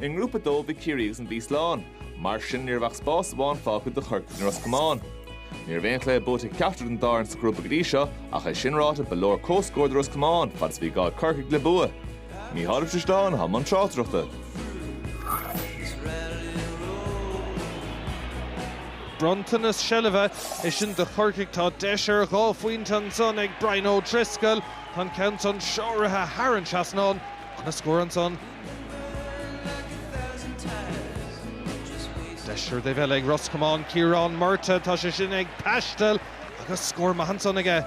I nGrúpa 2 bhí Ciarraí agus an Mhí slán. Mar sin ní raibh ach spás amháin fágtha do Chorcaigh nó Ros Comáin. Ní raibh aon chluiche buaite ag ceachtar den dá fhoireann sa ghrúpa go dtí seo ach é sin ráite ba leor comhscór do Ros Comáin fad is a bhí gá ag Corcaigh le bua. Micheál Pléimeann i mbun tráchtaireachta. Bronntanas seilbhe é sin do Chorcaigh. Tá deis ar dhá phointe ansan ag Brian O'Driscoll. Tá an ceann san seolta thar an trasnán, ana scór annsan. Deis ar an dtaobh eile ag Ros Comáin, Ciarán Murtagh, tá sé sin ag taisteal agus scór maith annsan aige.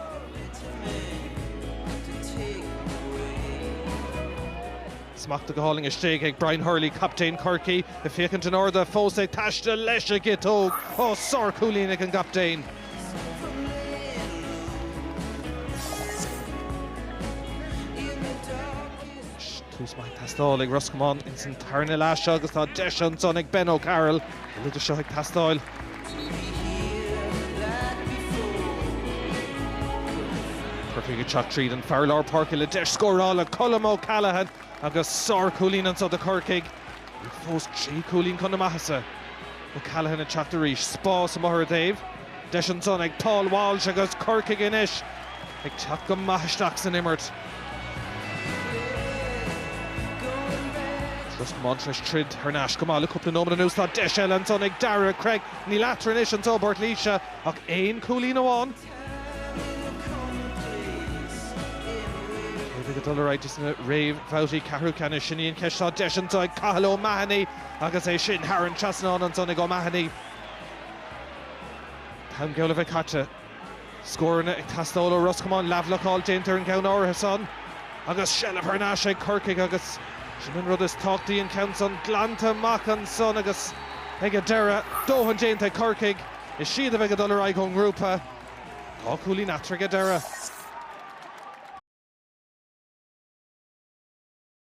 Smachtaithe go hálainn istigh ag Brian Hurley, captaen Chorcaí, ag féachaint in airde, fós ag taisteal leis a' gciotóg. Ó, sár chúilín ag an gcaptaen. Tús maith ag teastáil ag Ros Comáin ins an tarna leath seo agus tá deis ansan ag Ben O'Carroll bhí sé seo ag teastáil. Corcaigh ag teacht tríd an fear lár páirce le deis scórála, Colm O'Callaghan, agus sár-chúilín ansan do Chorcaigh. Iad fós trí chúilín chun na maitheasa. O'Callaghan ag teacht arís. Spás amuigh ar an dtaobh. Deis ansan ag Paul Walsh agus Corcaigh anois ag teacht go maith isteach san imirt. Ros Comáin tar éis troid thar n-ais go maith le cúpla nóiméad anuas. Tá deis eile ansan ag Daire Cregg. Níl eatarthu anois anso i bPort Laoise ach aon chúilín amháin. Cé a bheidh ag dul ar aghaidh sna réamhbhabhtaí ceathrú ceannais? Sin í an cheist tá deis anso ag Cathal O'Mahony agus é sin thar an trasnán ansan ag O'Mahony. An t-am geall le bheith caite. Scóranna ag teastáil ó Ros Comáin, leathbhlocáil déanta ar an gceann áirithe san agus seilbh thar n-ais ag Corcaigh agus sin an rud is tábhachtaí, an ceann san glanta amach ansan agus ag an deireadh, dóthain déanta ag Corcaigh. Is iad a bheidh ag dul ar aghaidh ón ngrúpa dhá chúilín eatarthu ag an deireadh.